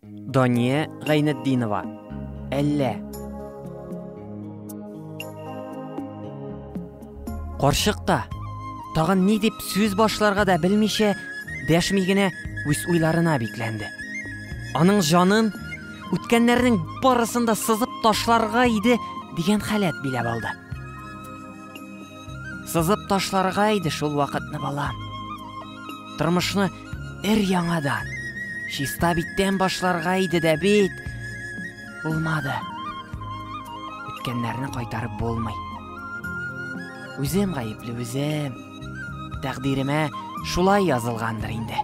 Дания Гайнетдинова. Әллә. Карчык та тагын ни дип сүз башларга да белмичә, дәшми генә үз уйларына бикләнде. Аның җанын үткәннәрнең барысын да сызып ташларга иде дигән халәт биләп алды. Сызып ташларга иде шул вакытны балам. Тормышны Эр яңадан. Чиста биттән башларга иде дә бит. Булмады. Үткәннәрне кайтарып булмый. Үзем гаепле үзем. Тәкъдиремә шулай язылгандыр инде.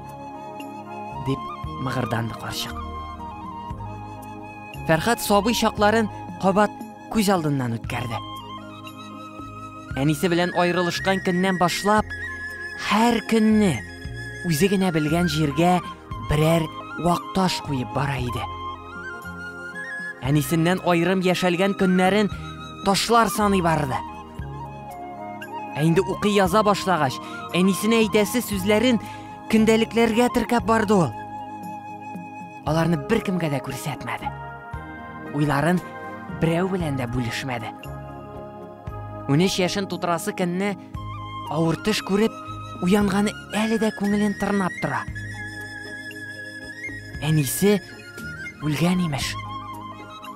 Дип мыгырданды карчык. Фәрхат сабый чакларын кабат күз алдыннан үткәрде. Әнисе белән аерылышкан көннән башлап, һәр көнне үзе генә белгән җиргә берәр вакташ куеп бара иде. Әнисеннән аерым яшәлгән көннәрен ташлар саный барды. Ә инде укый яза башлагач, әнисенә әйтәсе сүзләрен көндәлекләргә теркәп барды ул. Аларны беркемгә дә күрсәтмәде. Уйларын берәү белән дә бүлешмәде. Унөч яшен тутырасы көнне авыр төш күреп, уянганы әле дә күңелен тырнап тора. Әнисе үлгән имеш.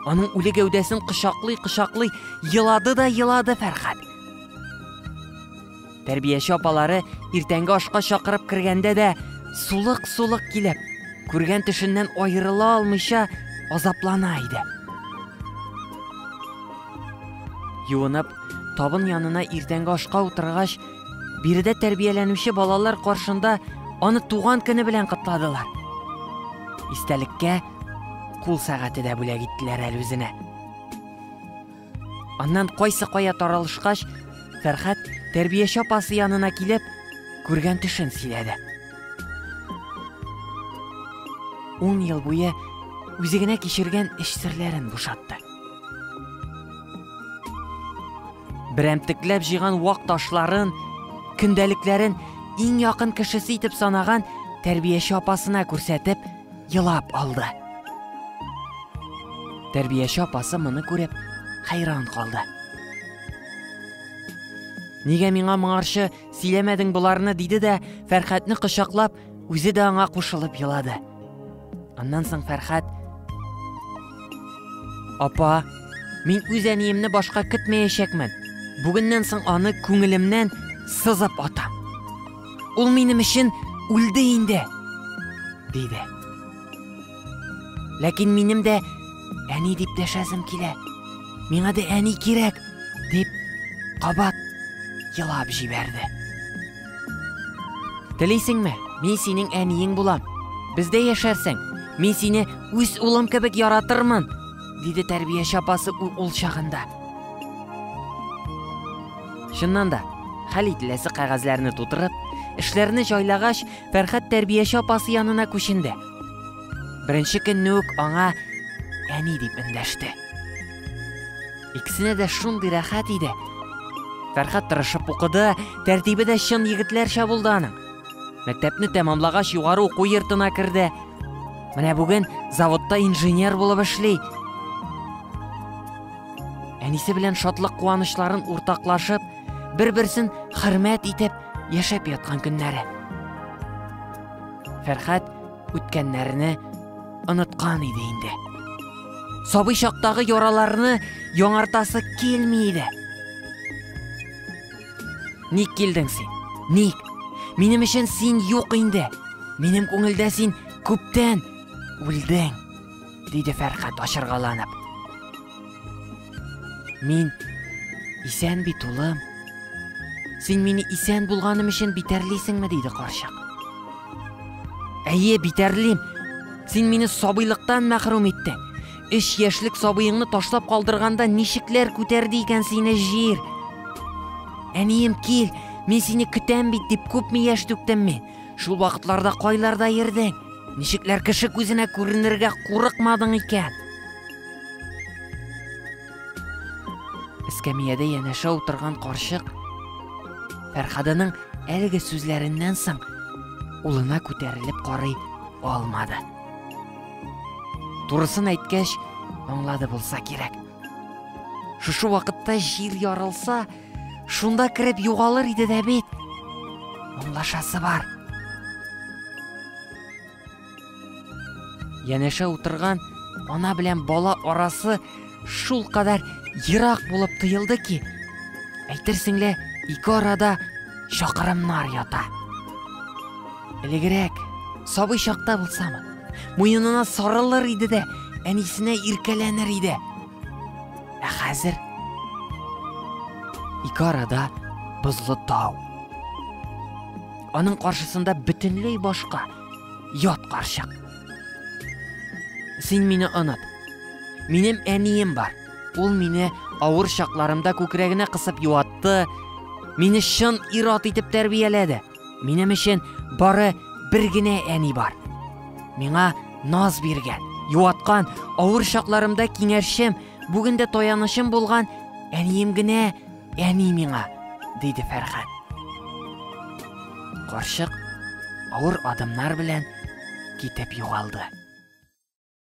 Аның үле гәүдәсен кочаклый-кочаклый елады да елады Фәрхәт. Тәрбияче апалары иртәнге ашка чакырып кергәндә дә сулык-сулык килеп, күргән төшеннән аерыла алмыйча азаплана иде. Юынып, табын янына иртәнге ашка утыргач, биредә тәрбияләнүче балалар каршында аны туган көне белән котладылар. Истәлеккә кул сәгате дә бүләк иттеләр әле үзенә. Аннан кайсы кая таралышкач, Фәрхәт тәрбияче апасы янына килеп, күргән төшен сөйләде. Ун ел буе үзе генә кичергән эш серләрен бушатты. Берәмтекләп җыйган вак ташларын, көндәлекләрен иң якын кешесе итеп санаган тәрбияче апасына күрсәтеп, елап алды. Тәрбияче апасы моны күреп, хәйран калды. Нигә миңа моңарчы сөйләмәдең боларны, диде дә, Фәрхәтне кочаклап, үзе дә аңа кушылып елады. Аннан соң Фәрхәт, Апа, мин үз әниемне башка көтмәячәкмен. Бүгеннән соң аны күңелемнән сызып атам. Ул минем өчен үлде инде, диде. Ләкин минем дә әни дип дәшәсем килә. Миңа да әни кирәк, дип кабат елап җибәрде. Телисеңме? Мин синең әниең булам. Бездә яшәрсең. Мин сине үз улым кебек яратырмын, Диде тәрбияче апасы ул чагында. Чыннан да, хәл ителәсе кәгазьләрне тутырып, эшләрне җайлагач, Фәрхәт тәрбияче апасы янына күченде. Беренче көнне үк аңа әни дип эндәште. Иксенә дә шундый рәхәт иде. Фәрхәт тырышып укыды, тәртибе дә чын егетләрчә булды аның. Мәктәпне тәмамлагач югары уку йортына керде. Менә бүген заводта инженер булып эшли. Әнисе белән шатлык куанычларын уртаклашып, бер-берсен хөрмәт итеп яшәп яткан көннәре. Фәрхәт үткәннәрне оныткан иде инде. Сабый чактагы яраларны яңартасы килми иде. Ник килдең син? Ник? Минем өчен син юк инде. Минем күңелдә син күптән үлдең, диде Фәрхат ашыргаланып. Мин исән бит, улым. Син мине исән булганым өчен битәрлисеңме, диде карчык. Әйе, битәрлим. Син мине сабыйлыктан мәхрүм иттең. Өч яшьлек сабыеңны ташлап калдырганда ничекләр күтәрде икән сине җир? Әнием, кил, мин сине көтәм бит дип күпме яшь түктем мин. Шул вакытларда кайларда йөрдең? Ничекләр кеше күзенә күренергә курыкмадың икән? Эскәмиядә янәшә утырган карчык Фәрхаданың әлеге сүзләреннән соң улына күтәрелеп карый алмады. Турысын әйткәч, аңлады булса кирәк. Шушы вакытта җил ярылса, шунда кереп югалыр иде дә бит. Аңлашасы бар. Янәшә утырган ана белән бала арасы Шул кадәр ерак булып тоелды ки, әйтерсең лә ике арада чакырымнар ята. Элегрәк, сабый чакта булсамы, муенына сарылыр иде дә, әнисенә иркәләнер иде. Ә хәзер ике арада бозлы тау. Аның каршысында бөтенләй башка ят карчык. Син мине оныт. Минем әнием бар. Ул мине авыр чакларымда күкрәгенә кысып юатты, мине чын ир-ат итеп тәрбияләде. Минем өчен бары бер генә әни бар. Миңа наз биргән, юаткан, авыр чакларымда киңәшчем, бүген дә таянычым булган әнием генә Әни миңа, диде Фәрхәт. Карчык авыр адымнар белән китеп югалды.